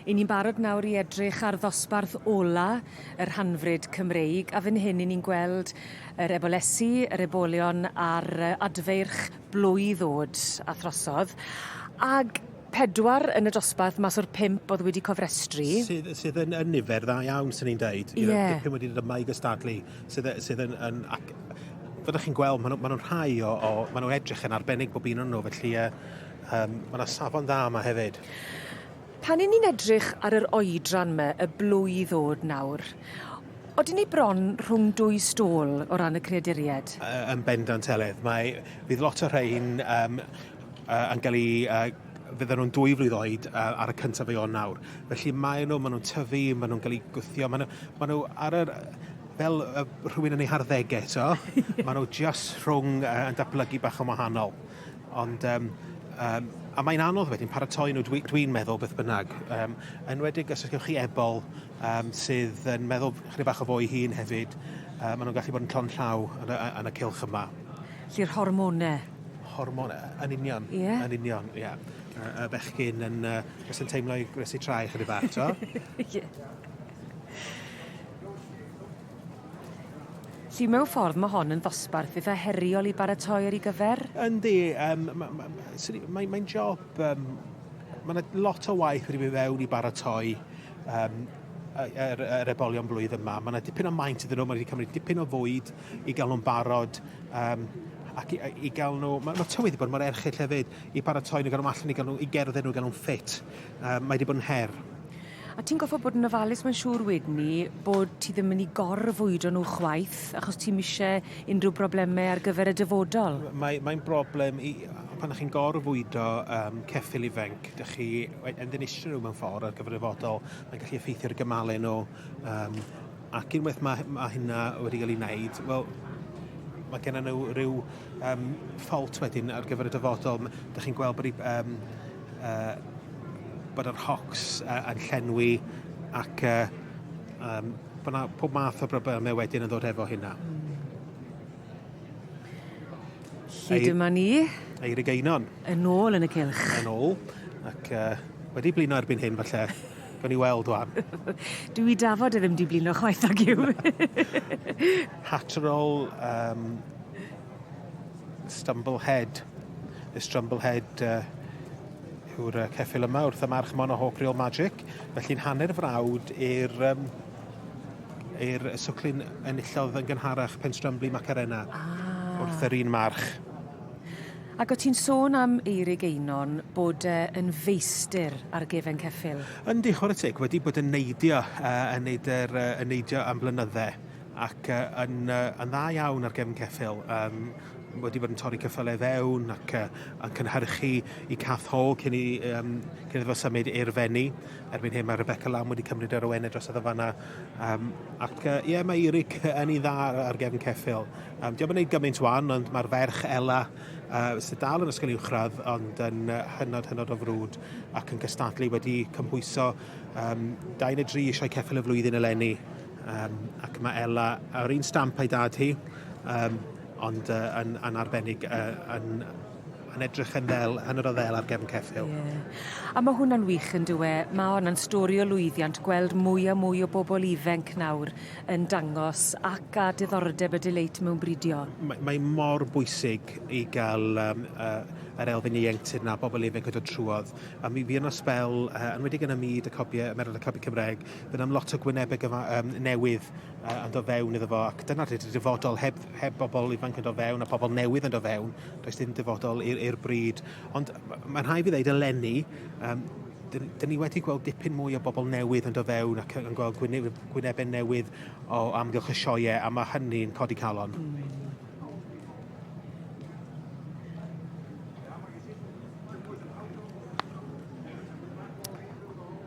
I ni'n barod nawr i edrych ar ddosbarth ola y rhanfryd Cymreig, a fyn hyn i ni'n gweld yr ebolesi, yr ebolion a'r adfeirch blwydd o'd a throsodd, ag pedwar yn y dosbarth mas o'r pump o'dd wedi cofrestru. Sydd sydd yn yn nifer dda iawn swn i'n deud. Ie. You know, dipyn wedi dod yma i gystadlu sydd yy sydd yn yn ac fel 'dach chi'n gweld ma' nw ma' nw'n rhai o o ma' nw edrych yn arbennig bob un o nw felly yy Yym, ma' 'na safon dda yma hefyd. Pan 'yn ni'n edrych ar yr oedran 'my, y blwydd o'd nawr, odyn ni bron rhwng dwy stôl o ran y creaduried. Yy yn bendant Elin. Mae... Fydd lot o rhein yym yy yn ga'l 'u yy fydden nhw'n dwy flwydd oed yy ar y cyntaf o Ionawr nawr. Felly mae nhw, ma' nhw'n tyfu, ma' nhw'n ga'l 'u gwthio, ma' nhw ma' nhw ar yr fel yy rhywun yn ei harddege t'o'? Ie. Ma' nhw jyst rhwng yy yn datblygu bach yn wahanol. Ond um, um, a mae'n anodd wedyn paratoi nhw, dwi'n dwi meddwl beth bynnag. Um, enwedig os ydych chi ebol um, sydd yn meddwl chydig bach o fo'i hun hefyd, um, maen nhw'n gallu bod yn llon llaw yn y, yn y cilch yma. Lly'r hormonau? Hormonau, yn union. Yeah. Yn union, ie. Yeah. Y, y bechgyn yn, uh, os yn teimlo i gwnesu trai chydig bach, to? yeah. Lly mewn ffordd mae hon yn ddosbarth eitha heriol i baratoi ar ei gyfer? Yndi, um, mae'n ma, ma, ma, ma job, um, mae yna lot o waith wedi mynd fewn i baratoi um, yr, yr ebolion blwydd yma. Mae yna dipyn o maint iddyn nhw, mae wedi cymryd dipyn o fwyd i gael nhw'n barod. Um, ac i, i gael nhw... Mae, mae tywydd wedi bod mor erchill hefyd i paratoi nhw, gael nhw allan i gael nhw, i gerdded nhw, gael nhw'n ffit. Um, mae wedi bod yn her. A ti'n goffod bod yn ofalus mae'n siŵr wedyn ni bod ti ddim yn i gorfwydo nhw chwaith achos ti'n mise unrhyw broblemau ar gyfer y dyfodol. Mae, mae'n broblem i, pan ydych chi'n gorfwydo um, ceffil ifanc, ydych chi yn ddinistrio nhw mewn ffordd ar gyfer y fodol, mae'n gallu effeithio ar gymalau nhw. Um, ac unwaith mae, mae hynna wedi cael ei wneud, wel, mae gennym nhw rhyw um, ffault wedyn ar gyfer y dyfodol. Ydych chi'n gweld bod um, uh, bod yr hocs uh, yn llenwi ac uh, um, bod yna pob math o broblemau wedyn yn ddod efo hynna. Hyd yma ni. Eirig Einon. Yn ôl yn y cilch. Yn ôl. Ac uh, wedi blino erbyn hyn falle. Gawn ni weld wan. Dwi i dafod e ddim di blino chwaith ag yw. Hatterol, um, Stumblehead. Y Strumblehead uh, yw'r uh, ceffil yma wrth y march Mono Hawk Real Magic. Felly'n hanner frawd i'r um, i'r swclyn enillodd yn gynharach pen Strumbly Macarena ah. wrth yr un march. Ac o ti'n sôn am Eirig Einon bod e yn feistir ar gefen ceffil? Yndi, chwarae teg, wedi bod yn neidio, uh, yn, neud er, uh, yn neidio am blynydde. ac yn, yn dda iawn ar gefn ceffyl, um, wedi bod yn torri cyffylau fewn ac uh, yn cynhyrchu i Cath Ho cyn i um, cyn iddo symud i'r fenni. Erbyn hyn mae Rebecca Lam wedi cymryd yr owenau dros y ddyfanna. Um, ac ie, uh, yeah, mae Eric yn ei dda ar gefn ceffyl. Um, Diolch yn gwneud gymaint wan, ond mae'r ferch Ella uh, sydd dal yn ysgol uwchradd ond yn uh, hynod hynod o frwd ac yn cystadlu wedi cymhwyso um, dau neu dri eisiau ceffyl y flwyddyn eleni Um, ac mae Ella yr un stamp a'i dad hi, um, ond uh, yn, yn arbennig, uh, yn, yn edrych yn ddel, yn yr oddel ar gefn ceffil. Yeah. A mae hwnna'n wych yn dweud, e? Mae hwnna'n stori o lwyddiant gweld mwy a mwy o bobl ifenc nawr yn dangos ac a diddordeb y dileit mewn bridio. Mae, mae mor bwysig i gael um, uh, yr elfen ieuenctid na bobl ifenc yn dod trwodd. A mi fi yna spel, uh, yn wedi yn y myd y cobiau, y merod y cobiau Cymraeg, Fe wnawn lot o gwynebau gyfa, um, newydd uh, yn dod fewn iddo fo, ac dyna'r dydy dyfodol heb, heb bobl ifanc yn dod fewn a pobl newydd yn dod fewn, does dim dyfodol i'r bryd. Ond mae'n rhaid i ddeud eleni, um, dyn, dyn ni wedi gweld dipyn mwy o bobl newydd yn dod fewn ac yn gweld gwynebau newydd o amgylch y sioe a mae hynny'n codi calon. Mm.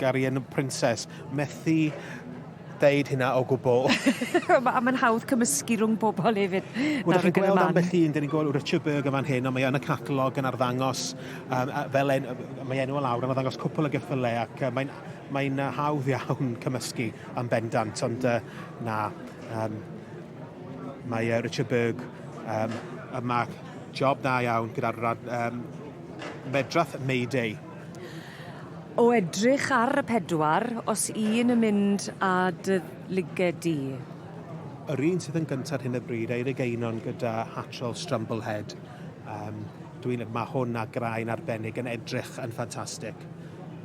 Guardian Princess. Methu deud hynna o gwbl. a mae'n hawdd cymysgu rhwng pobl hefyd. Wel, chi'n gweld ambell un, dyn ni'n gweld Richard Berg yn fan hyn, ond mae yn y catalog yn arddangos, um, fel en, mae enw o lawr, yn arddangos cwpl o geffylau, ac uh, mae'n mae hawdd iawn cymysgu am bendant, ond uh, na, um, mae uh, Richard Berg um, yma job da iawn gyda'r um, medrath Mayday O edrych ar y pedwar, os un yn mynd â dy luged di? Yr un sydd yn gynta ar hyn o bryd, Eirig Einon gyda Hatchel Strumblehead. Um, dwi'n, mae hwn a graen arbennig yn edrych yn ffantastig.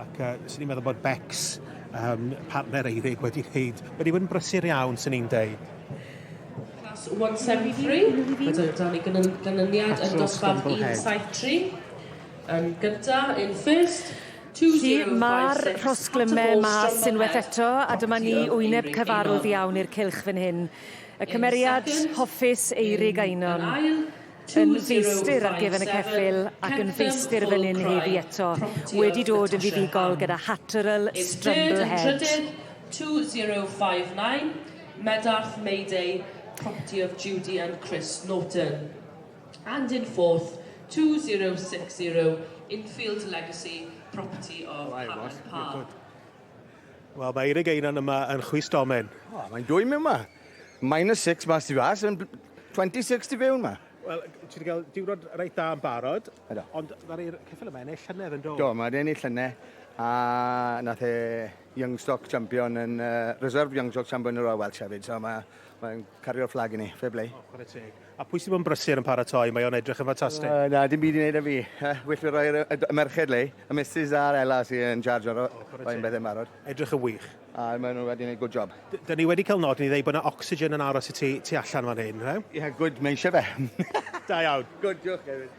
Ac uh, sy'n ni'n meddwl bod Bex, um, partner Eirig, wedi gwneud, wedi bod yn brysur iawn, sy'n ni'n deud. 173, byddwn dan ei gynyniad yn dosbarth 173. Yn gynta, in first. Felly, ma'r rhosglyme mas unwaith eto, a dyma ni, wyneb cyfarwdd iawn i'r cylch fan hyn. Y cymeriad hoffus, Eirig Einon, yn feistr ar gefn y ceffyl ac yn feistr fan hyn heddi eto, wedi dod yn fuddugol gyda Hatterl Strumble Head. Yn trydydd, 2059, Meddarth Mayday, property of Judy and Chris Norton. and in fourth, 2060 Infield Legacy property of Right, Hammond boss. You're Park. good. Wel, mae Eirig Einan yma yn chwist domen. O, mae'n dwy mewn ma. Minus 6 mas i fas, yn 26 i fewn ma. Wel, ti wedi cael diwrnod reit dda yn barod, Edo. ond dda'r i'r ceffil yma ennill llynedd yn do. Do, mae wedi ennill llynau, a nath e Youngstock champion yn uh, reserve Youngstock champion yn Royal Welsh hefyd, so mae mae'n cario'r fflag i ni, fe blei. O, chwarae teg. A pwy sy'n bod yn brysur yn paratoi? Mae o'n edrych yn ffantastig. Uh, na, dim byd i wneud â fi. Uh, well fi roi'r y merched le. Y Mrs a'r Ella sy'n yn charge o'r oh, rhoi'n bethau marod. Edrych yn wych. A maen nhw wedi gwneud good job. D Dyna ni wedi cael nod ni ddweud bod yna oxygen yn aros i ti, ti allan fan hyn, he? Ie, yeah, good, mae eisiau fe. da iawn. Good, diolch hefyd.